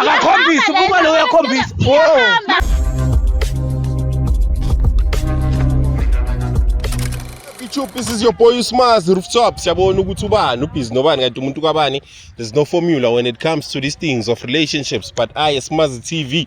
akakhombisi ukuba lo uyakhombisa YouTube this is your boy Usmaz Rooftop siyabona ukuthi ubani ubhizi nobani kanti umuntu kwabani there's no formula when it comes to these things of relationships but I Usmaz TV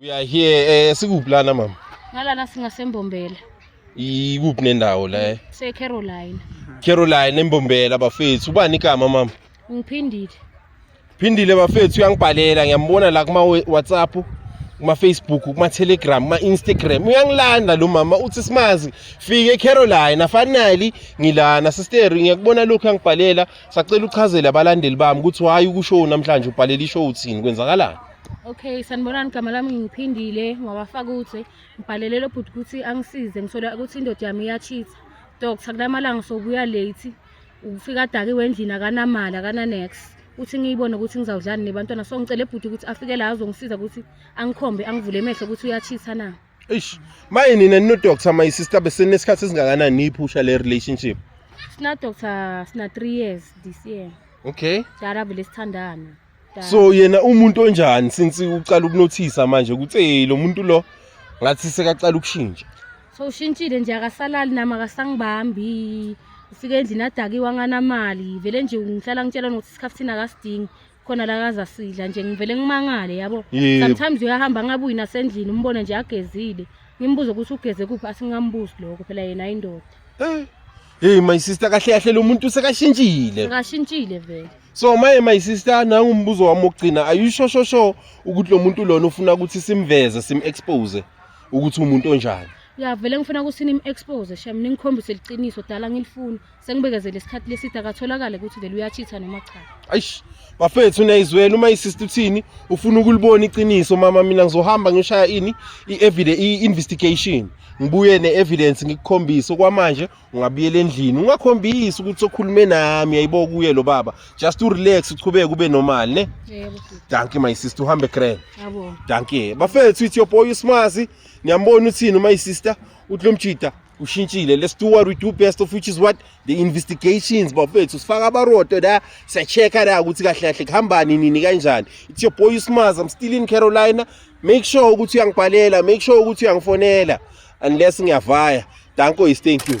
We are here eh sikuphi lana mama? Ngalana singasembombela. Ikuphi nendawo la? Se Caroline. Caroline embombela bafethu. Ubani igama mama? Ngiphindile. Phindile bafethu uyangibhalela ngiyambona la kuma WhatsApp kuma Facebook kuma Telegram kuma Instagram uyangilanda lo mama uthi simazi fike Caroline afanali ngilana sister ngiyakubona lokho yangibhalela sacela uchazele abalandeli bami ukuthi why ukushow namhlanje ubhalela ishow uthini kwenzakalani Okay, sanibonani gama lami ngiphindile ngawafaka ukuthi ngibhalele lo bhuti ukuthi angisize ngisola ukuthi indoda yami iyachitha doctor kulamalanga sobuya late ufika adakiwe endlini akanamali akananex uthi ngiyibone ukuthi ngizawudlani nebantwana so ngicela ebhuti ukuthi afike la azongisiza ukuthi angikhombe angivule emehlo ukuthi uyachitha na eish maye nina ninodoctor my sister besenesikhathi esingakanani niyiphusha le relationship sina doctor sina 3 years this year okay dala vele sithandana so yena umuntu onjani since uqala ukunothisa manje ukuthi hey lo muntu lo ngathi sekaqala ukushintsha so ushintshile nje akasalali nami akasangibambi ufike endlini adakiwa nganamali vele nje ngihlala ngitshela nokuthi isikhathi thina akasidingi khona la kaza sidla nje ngivele ngimangale yabo Yebo. sometimes uyahamba angabuyi nasendlini umbone nje agezile ngimbuze ukuthi ugeze kuphi asingambuzi lokho phela yena indoda Eh, Hey my sister kahle kahle lo muntu sekashintshile. Ngashintshile vele. So maye my sister nangu umbuzo wami okugcina are you sure sure sure ukuthi lo muntu lona ufuna ukuthi simveze sim expose ukuthi umuntu onjani. Ya vele ngifuna ukuthi nim expose shem ningikhombise liqiniso dala ngilifuna sengibekezele isikhathi leside akatholakale ukuthi vele uyachitha noma cha. Aish bafethu niyayizwela uma isista uthini ufuna ukulibona iqiniso mama mina ngizohamba ngishaya ini i-investigation ngibuye ne-evidence ngikukhombise okwamanje ungabuyela endlini ungakhombisi ukuthi okhulume nami yayibo kuye lo baba just urelax uchubeke ube normal ne danki my sister uhambe grand danki bafethu ithi yoboy usmazi niyambona uthini uma isister uthi lo mjida ushintshile let's do what we do best of which is what the investigations bafethu sifaka abaroto la siyachecka la ukuthi kahle kahle kuhambani nini kanjani it's your boy usmaz i'm still in carolina make sure ukuthi uyangibhalela make sure ukuthi uyangifonela unless ngiyavaya danko is thank you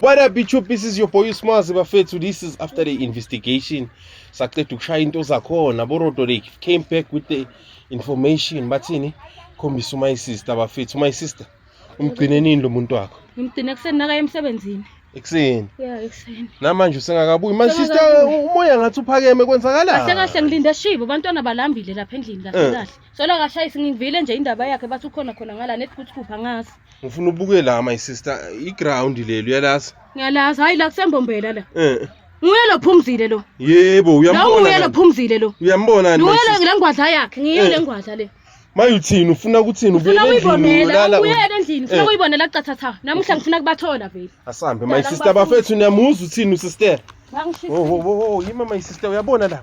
What up YouTube, this is your boy Usmazi bafethu. This is after the investigation. Saqeda ukushaya into zakhona borodo lake came back with the information bathini khombisa my sister bafethu. My sister umgcine nini lo muntu wakho? Ngimgcine ekuseni nakaye emsebenzini. Ekuseni. Yeah, ekuseni. Namanje usengakabuyi. My sister umoya ngathi uphakeme kwenzakalani? Kahle kahle ngilinde shibo abantwana balambile lapha endlini kahle eh. kahle. Sola akashayisi ngivile nje indaba yakhe bathi ukhona khona ngala nethi kuthi kupha ngazi. Ngifuna ubuke la my sister i ground leli uyalazi. Ngiyalazi hayi la kusembombela la. Eh. Nguye lo phumzile lo. Yebo uyambona. Lo nguye lo phumzile lo. Uyambona ni? Nguye le ngwadla yakhe, ngiyo eh. le ngwadla le. Maye uthini ufuna ukuthini ubuyela endlini ulala. Ubuyela endlini ufuna eh. ukuyibonela qathatha. Namuhla ngifuna kubathola vele. Asambe my sister bafethu niyamuzwa uthini usister. Wo wo wo yima my sister uyabona la.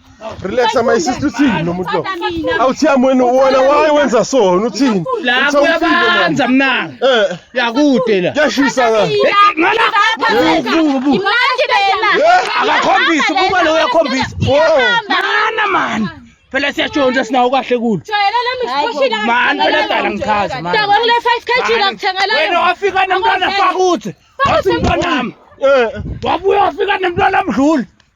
relax my sister uthini lo muntu lo awuthiya mwena wona why wenza so wena uthini la kuyabanza mna eh yakude la yashisa la ngala imanje bela akakhombisa ukuba lo uyakhombisa mana man phela siyatshontsha sinawo kahle kulo man phela dala ngichaza man dakwa kule 5 kg ngakuthengelana wena wafika nomntwana fakuthi wathi mntwana wami eh. wabuya wafika nomntwana mdluli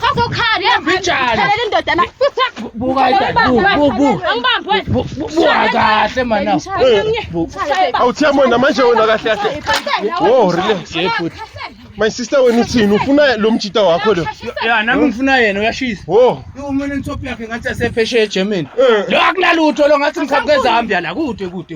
Sazokhala yebo. Mbijana. Thalela indoda la. Buka idad. Bu bu bu. Angibambi wena. Bu- bu- Buka kahle mana. Bu. awuthiya mona manje wena kahle kahle wo relax ye futhi my sister wena uthini ufuna lo mjita wakho lo Ya nami ngifuna yena uyashisa. wo Uma nentophi yakhe ngathi asephesheya eGermany. Eh. Lo akunalutho lo ngathi ngikhaphe eZambia la kude kude.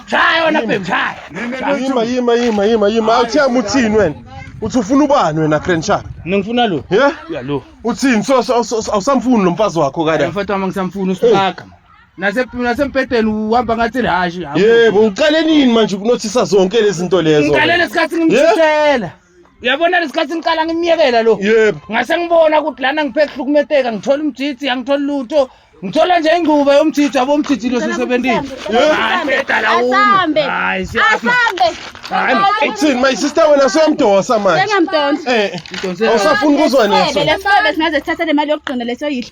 Shaya wena babe shaya. Yima yima yima yima yima awuthiyama uthini wena? Uthi ufuna ubani wena Grand Shark? Mina ngifuna lo. Yeah? Ya lo. Uthini so so- so- so- awusamfuni lo mfazi wakho kada. Mfethu wami ngisamfuna usibaka. Nase nasempedeni uhamba ngathi lihashi. Yebo uqale nini manje ukunothisa zonke lezi zinto lezo? Ngiqalele isikhathi ngimthuthela. uyabona lesikhathi ngiqala ngimyekela lo yebo ngase ngibona ukuthi lana ngiphe kuhlukumeteka ngithola umjiji angithola lutho ngithola nje ingcuba yomjiji abo umjiji lo sisebenzile asambe asambe Uthini my sister wena siyamdosa manje. Sengamdonsa. Eh. Awusafuni kuzwa neso. Lesifebe singaze sithathe le mali yokugcina leso yidla.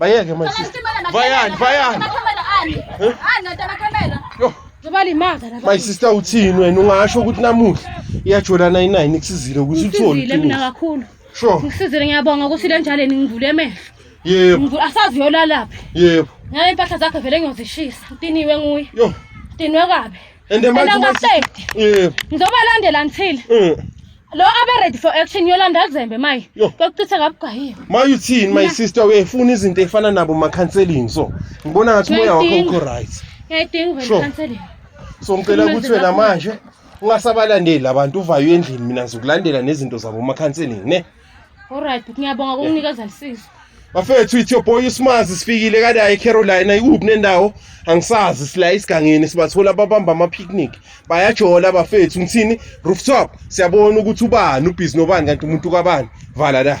Bayeke my sister. Bayani, bayani. My sister uthini wena ungasho ukuthi namuhla iyajola 99 nikusizile ukuthi uthole. Ngisizile mina kakhulu. Sure. Ngisizile ngiyabonga ukuthi le njalo ningivule emehlo. Yebo. Ngivule asazi yolalaphi. Yebo. Ngale impahla zakhe vele ngiyozishisa. Utiniwe nguye. Yo. Tinwe kabi. and the manje ngaqedi yebo ngizoba landela until mm. lo abe ready for action yolanda kuzembe maye kokuchitha kabugwayiwe maye uthini my sister uyayifuna izinto efana nabo ma counseling so ngibona ngathi moya wakho ukho right ngiyayidinga uvele counseling so ngicela ukuthi wena manje ungasabalandeli abantu uvayo endlini mina ngizokulandela nezinto zabo ma counseling ne Alright, bhuti ngiyabonga ukunginikeza lisizo. Bafethu ithi boy uSmazi sifikile kade ayi Carolina ikuphi nendawo angisazi sila isigangeni sibathola babamba ama picnic bayajola bafethu ngithini rooftop siyabona ukuthi ubani ubhizi nobani kanti umuntu kabani vala la